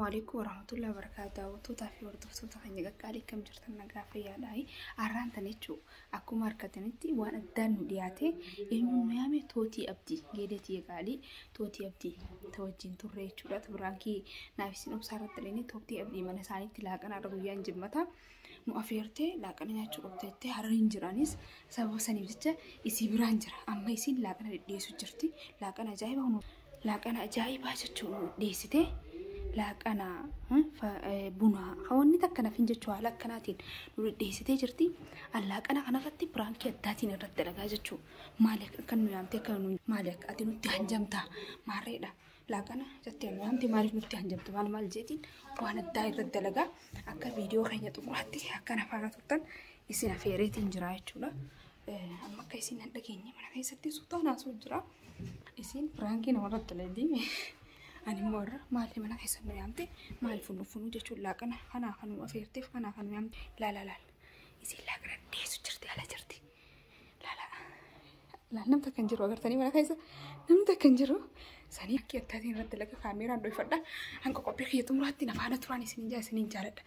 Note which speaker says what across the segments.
Speaker 1: Waalaikum warahmatullahi wabarakatuh. Daawwattootaa fi hordoftoota keenya qaqqaalii akkam jirtan nagaa fayyaadhaayi. Har'aan tan jechuun akkuma argatanitti waan addaan nu dhiyaate eenyuun nu yaame tootii abdii geedeetii eegaalii tootii abdii ta wajjin turre jechuudha. Biraankii naaf isin obsaa irratti illee tootii abdii mana isaaniitti laaqana irra guyyaan jimmata. nu afeertee laaqana nyaachuu qabda jettee harariin jiraanis sababa saniif jecha isii biraan jira amma isiin laaqana dhidhiyeessu jirti laaqana ajaa'ibaa nu laaqana ajaa'ibaa jechuu nu dhiyeessite laaqana hmm, fa- eh, bunaa hawanni takka nafin jechuu haala akkanaatiin nu dhidhiyeessitee jirti an laaqana kanarratti biraankii addaatiin irratti dalagaa jechuu maali akka nu yaamtee akka nu maali akka ati nutti hanjamtaa maarreedha laaqana jettee wanti maaliif nutti hanjamtu maal maal jeetiin waan addaa irra dalagaa akka viidiyoo keenya xumuraatti akka na faana turtan isin afeereetiin jira jechuudha. Amma akka isin hin dhageenye mana keessatti suutaan haasuu jira. Isin firaankii namarratti leedii ani immoo irra maaliif mana keessa nu yaamte maaliif funuu funuu jechuun laaqana kanaa kan nu afeerteef kanaa kan nu yaamte laala laala. Isin laaqana dhiyeessu jirti ala jirti. Laal namni takka hin jiru agartanii mana keessa namni takka hin jiru. Sanii akka akkaatiin irratti laga kaameeraan dhoofadha. Hanga qophii kiyya xumuraatti na faana turaan isiniin jaa isiniin jaaladha.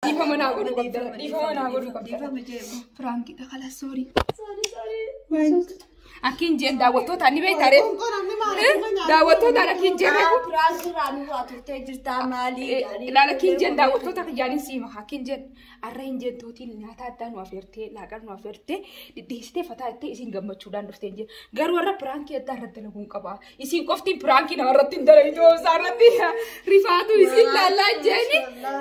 Speaker 1: Dhiifama naa godhuu qabda. Dhiifama naa godhuu qabda. Firaankiidha kala soorii. Akkiin jeen daawwattoota ni beektaa ree? Daawwattootaan akkiin jeen reefu. Firaankiirraa nurraa
Speaker 2: turtee jirtaa maalii? Ilaala akkiin jeen
Speaker 1: daawwattoota kiyyaanin siima. Akkiin jeen har'a hin jeen tootiin nyaata addaa nu affeertee laaqar nu affeertee dhidhiistee fataa ittee isin gammachuudhaan dhufteen jeen. Garuu har'a piraankii addaa irratti dalaguun qabaa. Isin qofti piraankii namarratti hin dalagitu obsaa irratti rifaatu isin laallaa jeeni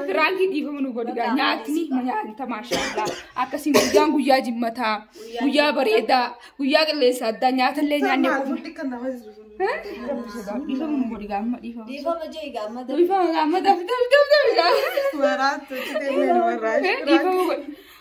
Speaker 1: piraankii dhiifama nu godhiga nyaatni ma nyaata maashaallaa akkasiin guyyaan guyyaa jimmataa guyyaa bareedaa guyyaa qilleensa addaa nyaatallee nyaanne qofa. Dhiifama nu godhiga amma dhiifama.
Speaker 2: Dhiifama jee egaa amma Dhiifama
Speaker 1: amma daf daf daf
Speaker 3: daf. Dhiifama godhi.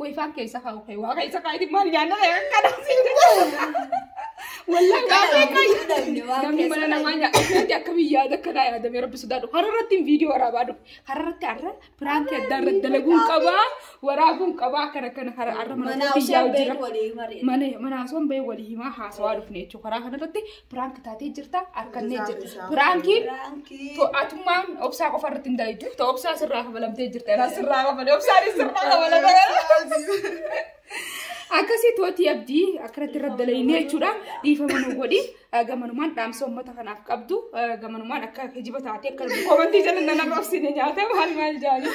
Speaker 3: Way faan keessa kaa'u
Speaker 1: kee waa keessa kaa'iti maal nyaanna kana Wallaan kaasee kaayyu. Namni mana namaa nyaata akkamii yaada akkanaa yaadamee rabbi sodaadhu. Hararratti viidiyoo waraabaa dhufe. Hararratti har'a piraantii adda irra dalaguun qabaa waraabuun qabaa akkana akkana har'a har'a mana irratti yaa'u jira. Mana mana haasawaan bahee walii himaa haasawaa dhufne jechuudha. Karaa kanarratti Piraank taatee jirta harkannee jirta. Piraankiin to'atummaan obsaa qofa irratti hin dalaydu. To obsaa sirraa kafalamtee jirta. Irraa sirraa kafale. Obsaan sirraa kafalamtee. Akkasii tooti abdii akkanatti irratti dalaynee jechuudha. Dhiifama nu godhi. Gamanumaan dhaamsa uummata kanaaf qabdu. Gamanumaan akka kijiba taatee akka komantii jala nan arrabsine nyaata maal maal jaanii.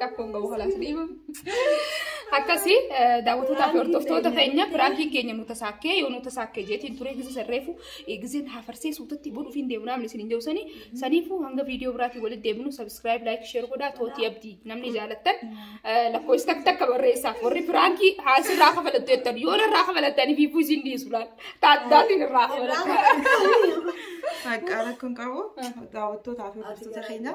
Speaker 1: Rakkoon qabu kalaas dhiibu. Akkasii daawwattoota fi hordoftoota keenya piraankiin keenya nu tasaakkee yoo nu tasaakkee jeetiin turee gisa sarreefu giseen hafarsee suutatti bonuuf hin deemu namni isin hin jawsanii saniifuu hanga viidiyoo biraatiin walitti deebinu sabiskiraayib laayik sheer godhaa tootii abdii namni jaalattan lakkoofsi takka takka barreessaaf warri piraankii haasii irraa kafalattu jettan yoo irraa kafalattanii fi buusii hin dhiisu laal taaddaatiin irraa kafalattu. Maqaa
Speaker 3: rakkoon qabu daawwattootaa fi hordoftoota keenya